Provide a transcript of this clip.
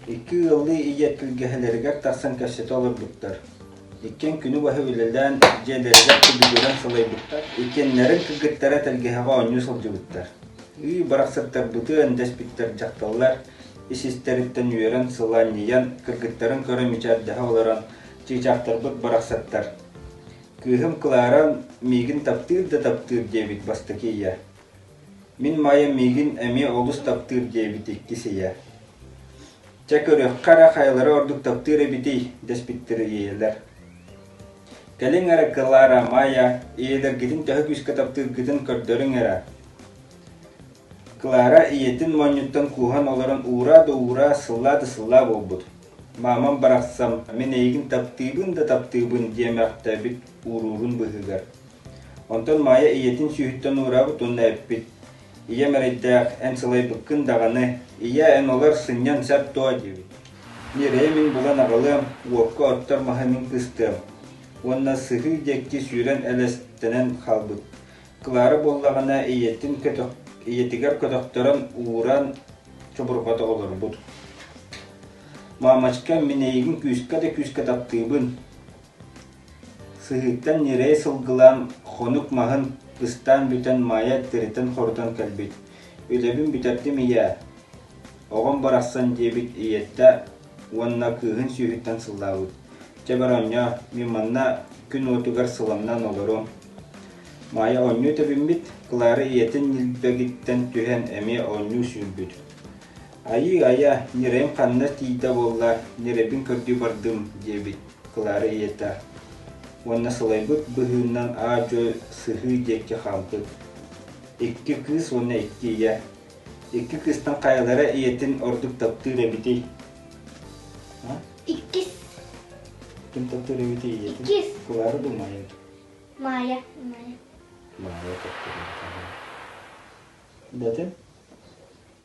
Икки ыаллыы ийэ түргэһэлэригэр тахсан кэпсэтэ олорбуттар. Иккиэн күнү баһы үлэлээн, дьиэлэригэр түбүгүрэн сылайбыттар, иккиэннэрин кыргыттара тэлгэһэҕэ оонньуу сылдьыбыттар. Үй барахсаттарбытын дэспиттэр дьахталлар исистэриттэн үөрэн сылаанньыйан, кыргыттарын көрө мичээрдэһэ олорон, чыычаахтарбыт барахсаттар «Кыыһым Клара миигин таптыыр да таптыыр» диэбит бастакы ийэ. Мин Майа миигин эмиэ олус таптыыр диэбит иккис ийэ: «Чэ, көрүөххэ эрэ хайалара ордук таптыыр эбитий?» дэспиттэр ийэлэр. Кэлиҥ эрэ, Клара, Майа, ийэлэргитин төһө күүскэ таптыыргытын көрдөрүҥ эрэ». Клара ийэтин моонньуттан кууһан олорон ураа да ураа, сыллаа да сыллаа буолбут: «Маамам барахсам, мин эйигин таптыыбын да таптыыбын» диэ мөхтөөбүт уруурун быыһыгар. Онтон Маайа ийэтин сүүһүттэн уураабыт уонна эппит, «Ийэм эрэйдээх, эн сылайбыккын даҕаны, ийээ, эн олор, сынньан сап дуо?» диэбит. «Ньирэйэ мин булан аҕалыам, уокка оттор маһы мин кыстыам» уонна сыһыы диэки сүүрэн элэстэнэн хаалбыт. Клара буоллаҕына ийэтин көтөх, ийэтигэр көтөхтөрөн ууран чобурҕата олорбут. «Маамачка, мин эйигин күүскэ да күүскэ таптыыбын, Сыһыыттан ньирэй сылгылаан, хонук маһын ыстаан бүтэн Маайа эттэриттэн хорутан кэлбит. «Үлэбин бүтэрдим ийээ, оҕом барахсан» диэбит ийэттэ уонна кыыһын сүүһүттэн сыллаабыт. «Чэ бороонньоо, мин манна күн уотугар сыламнаан олоруом». Маайа оонньуу тэбиммит, Клара ийэтин ньилбэгиттэн түһэн эмиэ оонньуу сүүрбүт. «Айыы айа, ньирэйим ханна тиийдэ буолла, ньирэбин көрдүү бардым» диэбит. Клара ийэтэ уонна сылайбыт быһыынан аа-дьуой сыһыы диэки хаалбыт. Икки кыыс уонна икки ийэ. Икки кыыстан хайалара ийэтин ордук таптыыр эбитий? Иккис. Ким таптыыр эбитий ийэтин? Иккис. Клара да Майя. Майя. Майя. Майя таптыыр эбитий. Дэтэ?